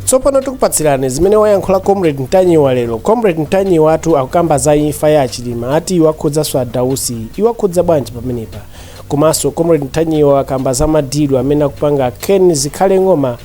tsopano tikupatsirani zimene wayankhula comrade mtanyiwa lero comrade mtanyiwa atu akukamba za imfa ya achilima ati iwakhudzanso adausi iwakhudza bwanji pamenepa komanso comrade mtanyiwa akukamba za madilu amene akupanga ken zikhale ng'oma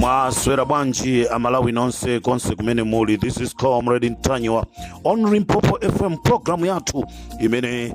mwaswera bwanji amalawi nonse konse kumene muli this is comrade ntanyiwa on limpopo fm programu yathu imene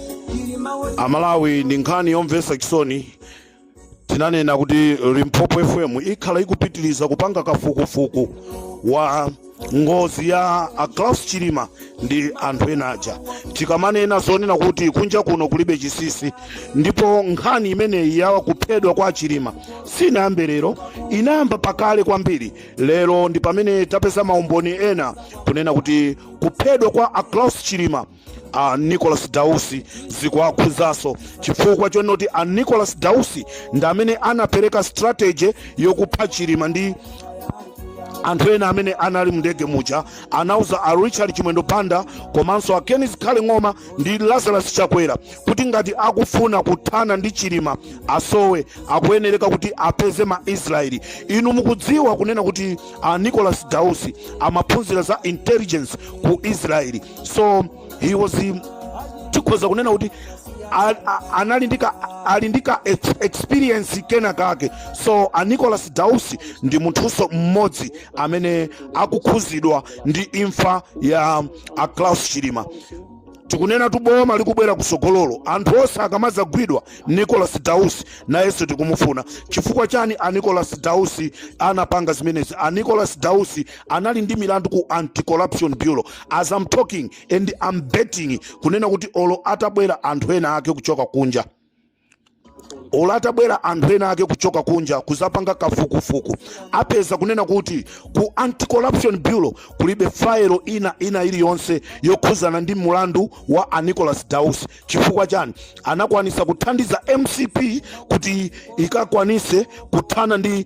amalawi ndi nkhani yomvetsa chisoni tinanena kuti limpopo fm ikhala ikupitiriza kupanga kafukufuku wa ngozi ya aclaus chilima ndi anthu ena aja tikamanena zoona kuti kunja kuno kulibe chisisi ndipo nkhani imeneyi ya kuphedwa kwa achilima sinayambe lero inayamba pakale kwambiri lero ndi pamene tapeza maumboni ena kunena kuti kuphedwa kwa aclaus chilima a Nicholas Dausi zikuwakhudzaso chifukwa chonoti a Nicholas Dausi ndi amene anapereka strategy yokupha Chilima ndi anthu ena amene anali mndege muja anauza a Richard Chimwendo Banda komanso a Ken Zikhale Ng'oma ndi Lazarus Chakwera kuti ngati akufuna kuthana ndi Chilima asowe akuyenereka kuti apeze ma Israeli inu mukudziwa kunena kuti a Nicholas Dausi amaphunzira za intelligence ku Israeli so he was um, tikhoza kunena kuti a- a- anali ndi ka- ali ndi ka ex- experience kena kake so a nicholas dausi ndi munthuso mmodzi amene akukhuzidwa ndi imfa ya a klaus chilima tikunenatu boma likubwera kusogololo anthu onse akamazagwidwa nicholas dausi nayenso tikumufuna chifukwa chani a nicholas dausi anapanga zimenezi a nicholas dausi anali ndi milandu ku anti-corruption bureau as am talking and am betting kunena kuti olo atabwera anthu ena ake kuchoka kunja olo atabwera anthu ena ake kuchoka kunja kuzapanga kafukufuku apeza kunena kuti ku anti-corruption bureau kulibe fayilo ina ina iliyonse yokhuzana ndi mulandu wa anicholas dausi chifukwa chani anakwanisa kuthandiza mcp kuti ikakwanise kuthana ndi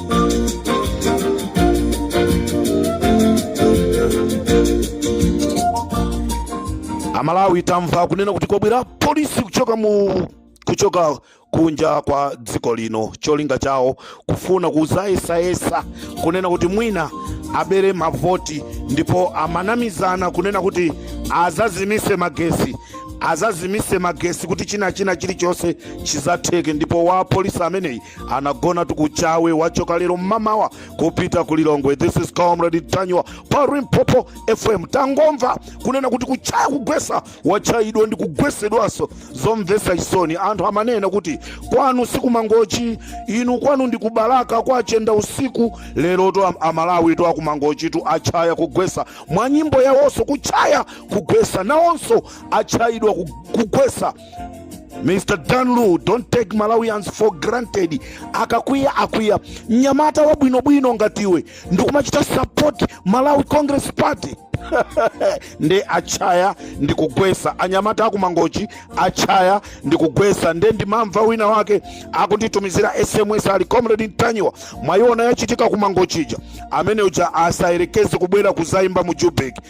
amalawi tamva kunena kuti kwabwera polisi kuchoka mu kuchoka kunja kwa dziko lino cholinga chawo kufuna kuzayesayesa kunena kuti mwina abere mavoti ndipo amanamizana kunena kuti azazimise magesi azazimise magesi kuti china china chilichonse chizatheke ndipo wa polisi ameneyi anagona Ku Chawe wachoka lero mmamawa kupita ku lilongwe this is comrade ntanyiwa pa limpopo fm tangomva kunena kuti kutchaya kugwesa watchayidwa ndi kugwesedwanso zomvesa chisoni anthu amanena kuti kwanu sikumangochi inu kwanu ndi kubalaka kwa chendausiku lerotu am- amalawitu akumangochitu atchaya kugwesa mwa nyimbo yawonso kutchaya kugwesa nawonso atchayidwa ku- kugwesa Mr. Dan Lu, don't take Malawians for granted. Akakwiya akwiya mnyamata wabwinobwino ngati iwe ndikumachita support Malawi Congress Party nde atchaya ndikugwesa anyamata akumangochi atchaya ndikugwesa nde ndimamva wina wake akunditumizira sms ali comrade ntanyiwa mwayiona yachitika kumangochi ija amene uja asayerekeze kubwera kuzaimba mu joburg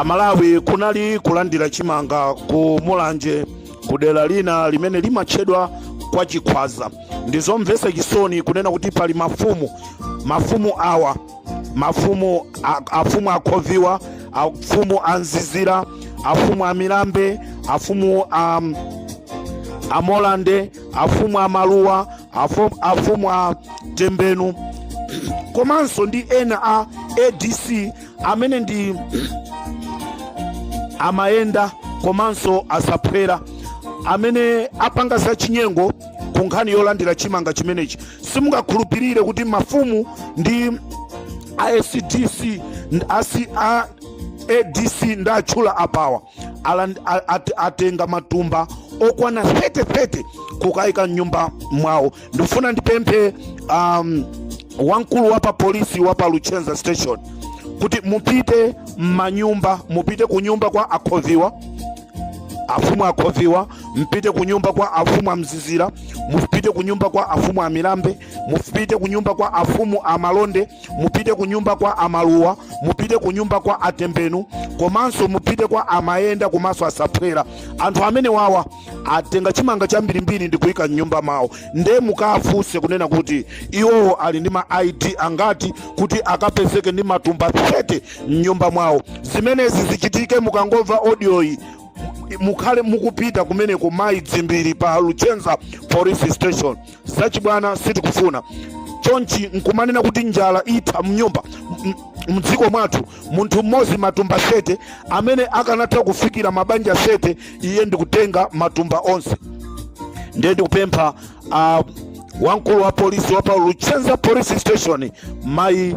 amalawi kunali kulandira chimanga ku mulanje ku dera lina limene limatchedwa kwa chikhwaza ndizomvetsa chisoni kunena kuti pali mafumu mafumu awa mafumu a- afumu akhoviwa afumu a mzizira afumu a milambe afumu a um, a molande afumu a maluwa afu- afumu a tembenu komanso ndi ena a adc amene ndi amayenda komanso asaphwera amene apanga zachinyengo ku nkhani yolandira chimanga chimenechi simungakhulupirire kuti mafumu ndi asdc asi a adc ndatchula apawa aland- a- at- atenga matumba okwana 30 30 kukayika mnyumba mwawo ndikufuna ndipemphe um, wamkulu wa pa polisi wa pa luchenza station kuti mupite m'manyumba mupite ku nyumba kwa akhoviwa afumu a khoviwa mupite ku nyumba kwa afumu a mzizira mupite ku nyumba kwa afumu a milambe mupite ku nyumba kwa afumu a malonde mupite ku nyumba kwa amaluwa mupite ku nyumba kwa atembenu komanso mupite kwa amayenda komanso asaphwera anthu amenewawa atenga chimanga chambirimbiri ndi kuyika mnyumba mawo nde mukafunse kunena kuti iwowo ali ndi ma id angati kuti akapezeke ndi matumba 30 m'nyumba mwawo zimenezi zichitike mukangomva audioyi mukhale mukupita kumeneko mayi dzimbiri pa luchenza police station zachibwana sitikufuna chonchi nkumanena kuti njala itha mnyumba mdziko mwathu munthu mmodzi matumba 30 amene akanatha kufikira mabanja 30 iye ndikutenga matumba onse ndiye ndikupempha uh, wamkulu wa polisi wa pa luchenza police station mayi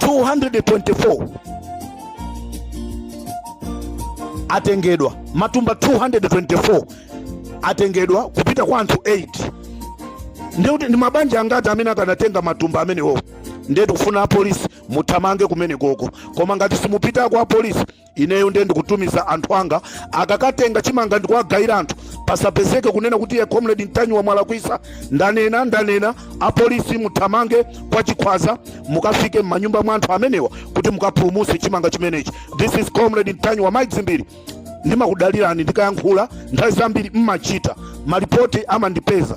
224 atengedwa matumba 224 atengedwa kupita kwa anthu 8 ndiye ndi mabanja angati amene akanatenga matumba amenewo ndiye tikufuna apolisi muthamange kumenekoko koma ngati simupitako apolisi ineyo ndiye ndikutumiza anthu anga akakatenga chimanga ndikuwagayira anthu pasapezeke kunena kuti ye comrade ntanyiwa mwalakwisa ndanena ndanena apolisi muthamange kwa chikhwaza mukafike m'manyumba mwa anthu amenewa kuti mukapulumutse chimanga chimenechi this is comrade ntanyiwa mayi dzimbiri ndimakudalirani ndikayankhula nthawi zambiri mmachita malipoti amandipeza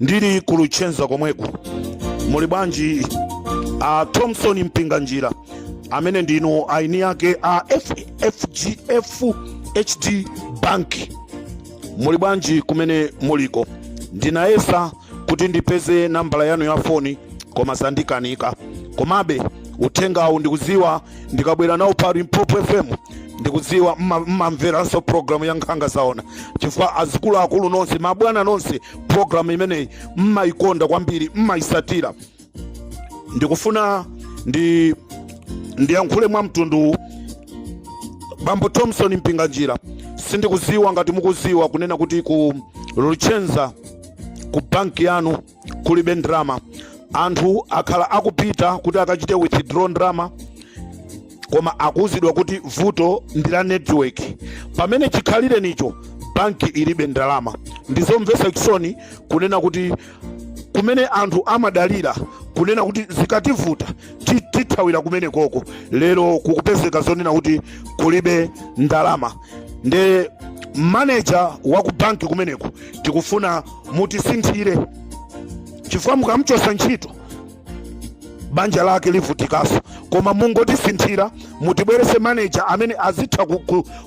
ndili ku luchenza komweku muli bwanji a thomson mpinganjira amene ndinu eni ake a fdh bank muli bwanji kumene muliko ndinayesa kuti ndipeze nambala yanu ya foni koma zandikanika komabe uthengawu ndikudziwa ndikabwera nawo pa limpopo fm ndikudziwa mmamveranso programu ya nkhanga zaona chifukwa azikuluakulu nonse mabwana nonse programu imeneyi mmayikonda kwambiri mmayisatira ndikufuna ndiyankhule mwa mtunduwu bambo thomson mpinganjira sindikuziwa ngati mukuziwa kunena kuti ku luchenza ku banki yanu kulibe ndrama anthu akhala akupita kuti akachite withdraw ndrama koma akuuzidwa kuti vuto ndi la network pamene chikhalirenicho banki ilibe ndalama ndizomvetsa chisoni kunena kuti kumene anthu amadalira kunena kuti zikativuta tithawira kumenekoko lero kukupezeka zonena kuti kulibe ndalama nde maneja wa ku banki kumeneko tikufuna mutisinthire chifukwa mukamchosa ntchito banja lake livutikaso koma mungotisinthira mutibwerese maneja amene azitha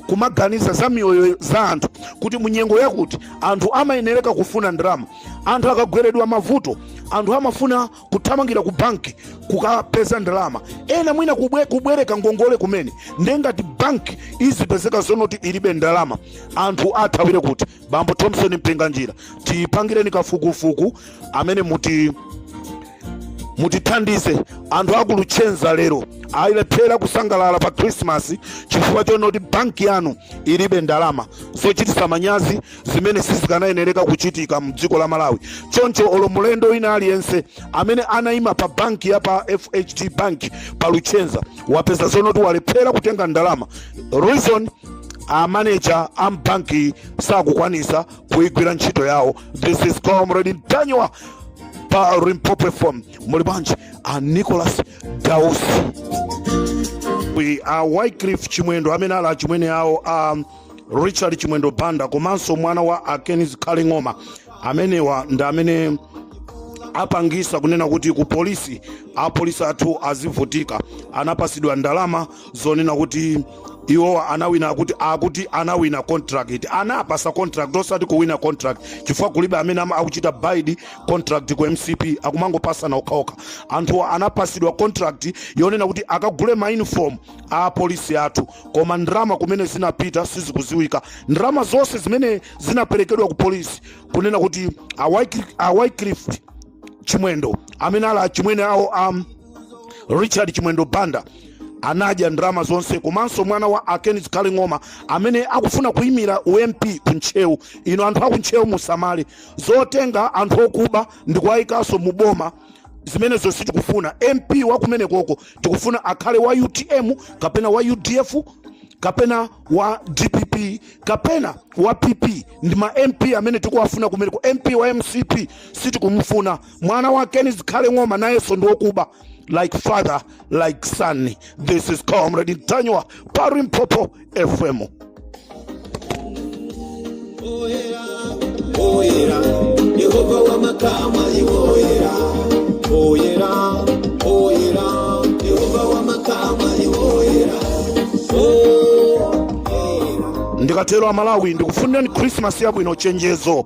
kumaganiza za miyoyo za anthu kuti munyengo yakuti anthu amayenereka kufuna ndalama anthu akagweredwa mavuto anthu amafuna kuthamangira ku banki kukapeza ndalama ena mwina kubwereka ngongole kumene ndiye ngati banki izipezeka zonoti ilibe ndalama anthu athawire kuti bambo thomson mpinganjira tipangireni kafukufuku amene muti mutithandize anthu aku Luchenza lero ayilephera kusangalala pa khrisimasi chifukwa chonoti banki yanu ilibe ndalama zochitisa manyazi zimene sizikanayenereka kuchitika mdziko la malawi choncho olo mulendo wina aliyense amene anayima pa banki ya pa fhd bank pa luchenza wapeza zonoti walephera kutenga ndalama reason amaneja a mbanki sakukwanisa kuigwira ntchito yawo this is comrade Ntanyiwa pa Limpopo FM muli bwanji a Nicholas Dausi a wycliffe chimwendo amene ali achimwene awo a richard chimwendo banda komanso mwana wa a Ken Zikhale Ng'oma amenewa ndi amene apangisa kunena kuti ku polisi apolisi athu azivutika anapasidwa ndalama zonena kuti iwo anawina kuti akuti anawina contract anapasa contract osati kuwina contract chifukwa kulibe amene ama- akuchita bid contract ku mcp akumangopasana okhaokha anthu anapasidwa contract yonena kuti akagule ma uniform a apolisi athu koma ndalama kumene zinapita sizikuziwika ndrama zonse zimene zinaperekedwa ku polisi kunena kuti a wycliffe chimwendo amene ali achimwene awo a richard chimwendo banda anadya ndalama zonse komanso mwana wa a Ken Zikhale Ng'oma amene akufuna kuyimira u mp ku ntcheu ino anthu aku ntcheu musamale zotenga anthu okuba ndi kuwayikanso mu boma zimenezo sitikufuna mp wa kumene koko tikufuna akhale wa utm kapena wa udf kapena wa dpp kapena wa pp ndi ma mp amene tikuwafuna kumeneko mp wa mcp sitikumufuna mwana wa ken zikhale ng'oma nayenso ndi wokuba like father like son this is comrade Ntanyiwa pa Limpopo fm Oyera, oyera, Yehova wa makamu ali oyera. Oyera, oyera, Yehova wa makamu ali oyera. Oyera. ndikatero amalawi ndikufunirani khrisimasi yabwino chenjezo